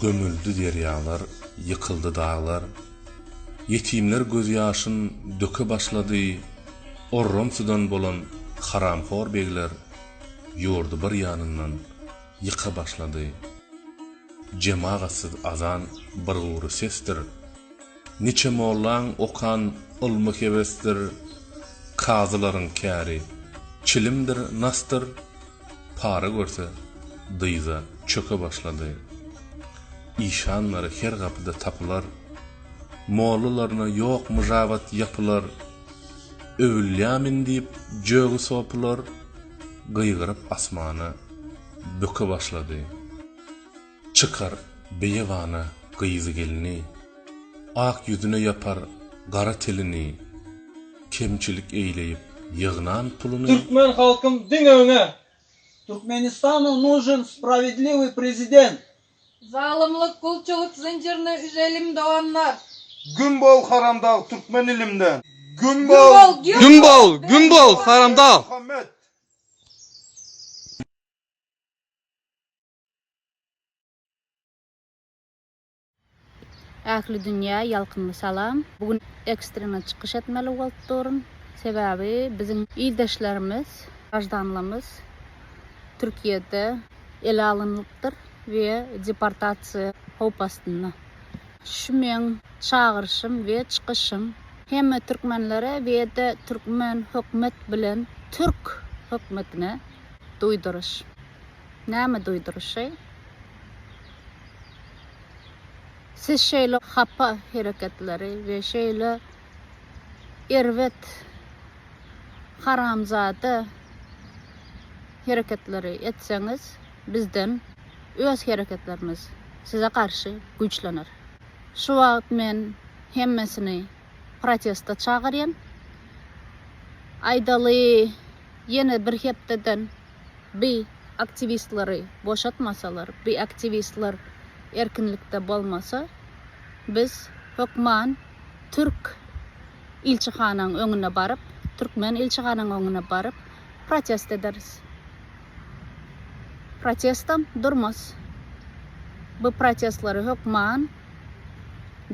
Gömüldi derýalar, ýykyldy daglar, Ýetimler gözýaşyn döke başlady, Orramsydan bolan haramhor begler, Ýurdy bir ýanyndan ýyka başlady. Jemagatsyz azan bir gury sesdir. Niçe mollaň okan ylmy hebesdir kazylaryň käri çilimdir nasdyr para görse dyza çöke başlady işanlary her gapyda tapylar mollalaryna ýok myžabat ýapylar öwülýamin diýip jögi sopylar gygyryp asmana böke başlady. Çykar beýebana gyzy-gelni. Ak ýüzüne ýapar gara tilini. Kemçilik eýleýip ýygnan puluny. Türkmen halkym diňe öňe! Türkmenistanu nužen spravedliwiý prezident! Zalymlyk gulçulyk zynjyryny üzelim doganlar. Güm bol haramdag türkmen ilimden. Güm bol güm bol güm bol haramdag. Ähli dünýä ýalkymly salam! Bu gün ekstrenen çykyş etmeli bolup durun. Sebäbi biziň ildeşlerimiz, graždanlarymyz Türkiýede ele alynlypdyr we deportasiýa howp astynda. Şu meň çagyryşym we çykyşym hemme türkmenlere we-de türkmen hökümet bilen türk hökümetine duýduryş. Näme duýduryşy? Siz şeýle hapa hereketleri we şeýle erbet haramzada hereketleri etseňiz, bizden öz hereketlerimiz size garşy güýçlener. Şu wagt men hemmesini protesta çagyrýan. Aýdaly, ýene bir hepdeden Bi aktiwistleri boşatmasalar, bi aktiwistler erkinlikde bolmasa, biz hökman türk ilçihanaň öňüne baryp, türkmen ilçihanaň öňüne baryp protest ederis. Protestam durmaz. Bu protestleri hökman.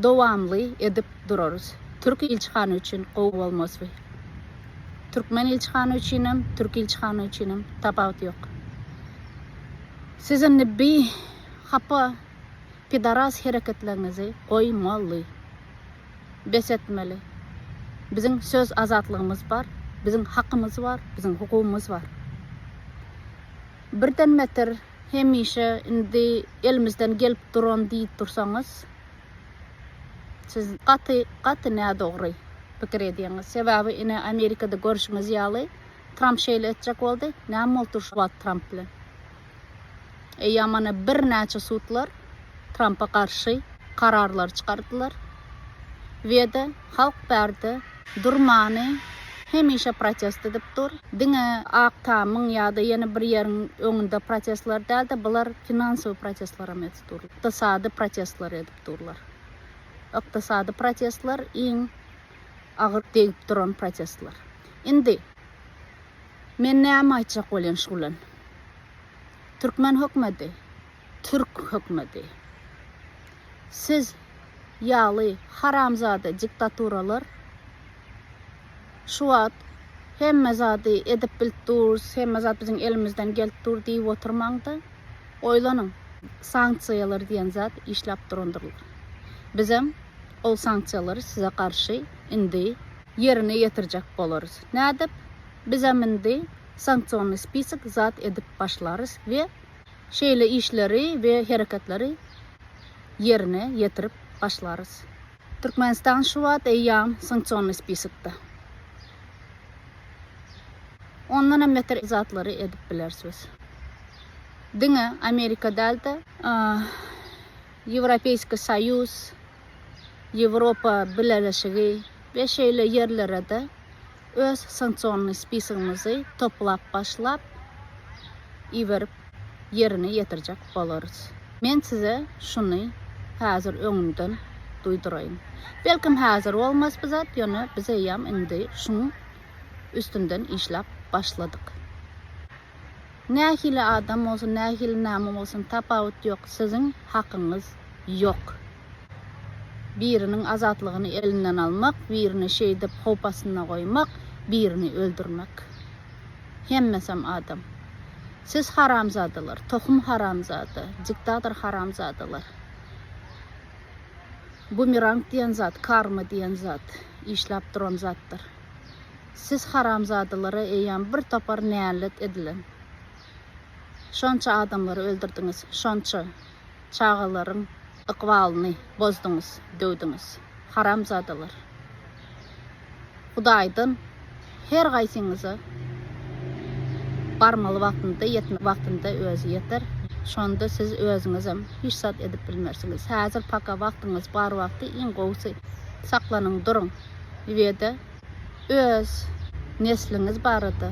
Dowamly edip durarys. Türk ilçihana üçin gowy bolmasby. Türkmen ilçihana üçinem, türk ilçihana üçinem tapawut ýok. Siz indi bi hapa pidaras hereketlerinizi goýmaly. Bes etmeli. Biziň söz azatlygymyz bar, biziň hakymyz bar, biziň hukugymyz bar. Birden meter hemişe indi elimizden gelip duran diýip dursaňyz, siz gaty, gaty nädogry pikir edýäňiz. Sebäbi ine Amerikada görşüňiz ýaly, Tramp şeýle etjek boldy, näme bolupdyr şu wagt Tramp bilen? Eýýäm ana birnäçe sudlar Trampa garşy kararlary çykardylar. Weda halk bärde. Durmany hemişe protest edip dur. Diňe Ak tamyň ýa-da ýene bir ýeriň öňünde protestler däl-de, bular finansowy protestlerem edip dur. Ykdysady protestler edip durlar. Ykdysady protestler iň agyr degip duran protestler. Indi men näme aýtjak bolýan şu bilen? Türkmen hökmedi Türk hökmedi. Siz ýaly haramzada jiktaturalar şu wagt hemme zady edip bilip durs, hemme zat biziň elimizden gelip dur diýip oturmaňda. Oýlanyň. Sanksiýalar diýen zat işläp durandyr. Bizem ol sanksiýalary size garşy indi ýerine ýetirjek bolarys. Nädip? Bizem indi sanksionny spisok zat edip başlarys we Şeýle işleri we hereketleri ýerine ýetirip başlarys. Türkmenistan şu wagt eýýam sanksionny spiskda. Ondan hem beter zatlary edip bileris biz. Diňe Amerika däl-de, Ýewropeýski Soýuz, Ýewropa Bileleşigi we şeýle ýerlere-de Öz sanksionnyý spisogymyzy toplap başlap iberip ýerine ýetirjek bolarys. Men size şuny häzir öňünden duýduraýyn. Belkem häzir bolmaz bu zat, ýöne biz eýýäm indi şuň üstünden işläp başladyk. Nähili adam bolsun, nähili näme bolsun tapawut ýok, siziň hakyňyz ýok. Biriniň azatlygyny elinden almak, birini şeýdip howp astynda goýmak, birini öldürmek. Hemmesem adam. Siz haramzadalar, tohum haramzada, diktator haramzadalar. Bumerang diýen zat, karma diýen zat, işläp duran zatdyr. Siz haramzadalara eýýäm bir topar nälet edilen. Şonça adamlary öldürdiňiz, şonça. çagalaryň ykbalyny bozduňyz döwdüňiz haramzadalar Hudaýdan her gaýsyňyza barmaly wagtynda ýetmeli wagtynda özi ýeter şonda siz özüňizem hiç zat edip bilmersiňiz häzir paka wagtyňyz bar wagty iň gowusy saklanyň duruň ibede Öz nesliňiz barada,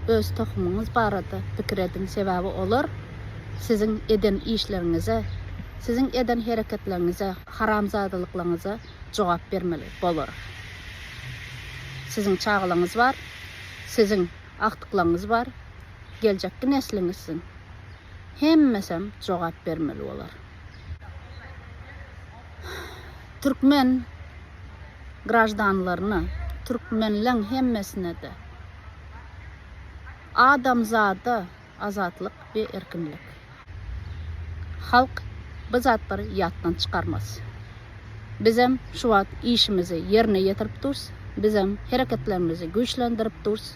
öz tohumyňyz barada pikir ediň, sebäbi olar siziň eden işleriňize, siziň eden hereketleriňize, haramzadalyklaryňyza jogap bermeli bolar. Siziň çagalaryňyz bar, siziň agtyklaryňyz bar, geljekki nesliňiz siziň. Hemmesem jogap bermeli bolar. türkmen graždanlaryna, türkmenleň hemmesine-de adamzada azatlyk we erkinlik. Halk bu zatlary ýatdan çykarmaz. Bizem şu wagt işimizi ýerine ýetirip durus, bizem hereketlerimizi güýçlendirip durus.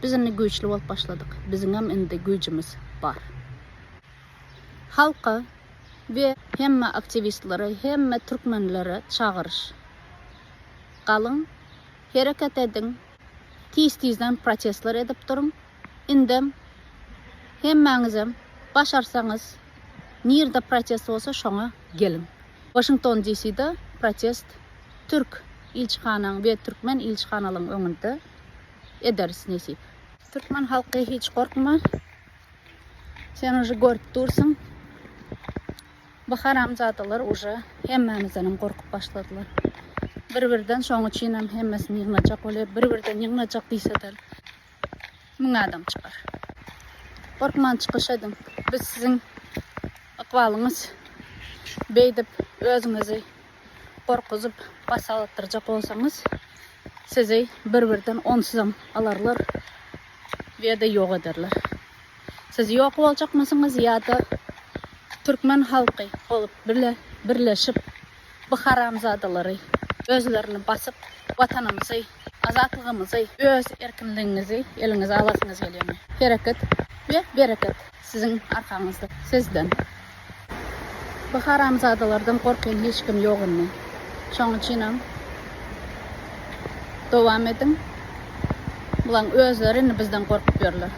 Biz indi güýçli bolup başladyk, biziňem indi güýjümiz bar. Halka we hemme aktiwistlere, hemme türkmenlere çagyryş. Galyň, hereket ediň, tiz-tizden protestler edip duruň, indem hemmäňizem başarsaňyz, nirde protest bolsa şoňa geliň. Washington DC-de protest türk ilçihanaň we türkmen ilçihanalaň öňünde ederis nesip. Türkmen halky hiç gorkma. Sen uji görüp dursun. Bu haramzadalar uji hemmämizden hem gorkup başladylar. Bir birden şoň üçin hem hemmesini ýygnajak bolýar. Bir birden ýygnajak diýseler. Müň adam çykar. Gorkman çykyş ediň. Biz siziň ykbalyňyz beýdip özüňizi gorkuzyp bas alatdyrjak bolsaňyz sizi bir birden onsuzam alarlar ýa-da ýok ederler. Siz ýok boljakmysyňyz ýa-da türkmen halky bolup bile birleşip bu haramzadalary özlerini basyp watanymyzy Azatlygymyzy, öz erkinligiňizi eliňize alasyňyz gelýärmi? Hereket we bereket siziň arkaňyzda. Sizden. Bu haramzadalardan gorkýan hiç kim ýok indi. Şoň üçinem dowam ediň. Bulaň özleri indi bizden gorkup ýörler.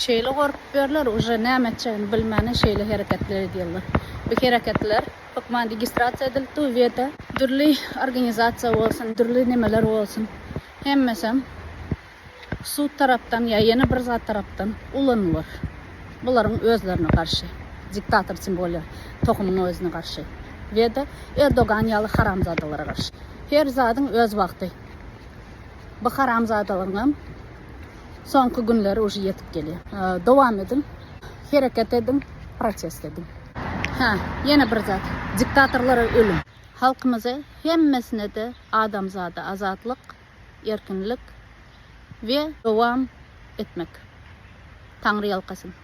Şeýle gorkup ýörler, uje näme etjegini bilmäne şeýle hereketler edýärler. Bu hereketler Hökman registrasiýa edilip dur bu ýerde. Dürli organizasiýa bolsun, dürli nemeler bolsun, hemmesem sud tarapdan ýa ýene bir zat tarapdan ulanylar. Bularyň özlerine garşy diktator kim bolýar? Tohumyň özüne garşy we-de Erdogan ýaly haramzadalara garşy. Her zadyň öz wagty. Bu haramzadalaryňam. Soňky günler uji ýetip gelýär. Dowam ediň. Hereket ediň, protest ediň. Hä, ýene bir zat. Diktatorlara ölüm. Halkymyza hemmesine-de adamzada azatlyk, erkinlik we dowam etmek. Taňry ýalkasyn.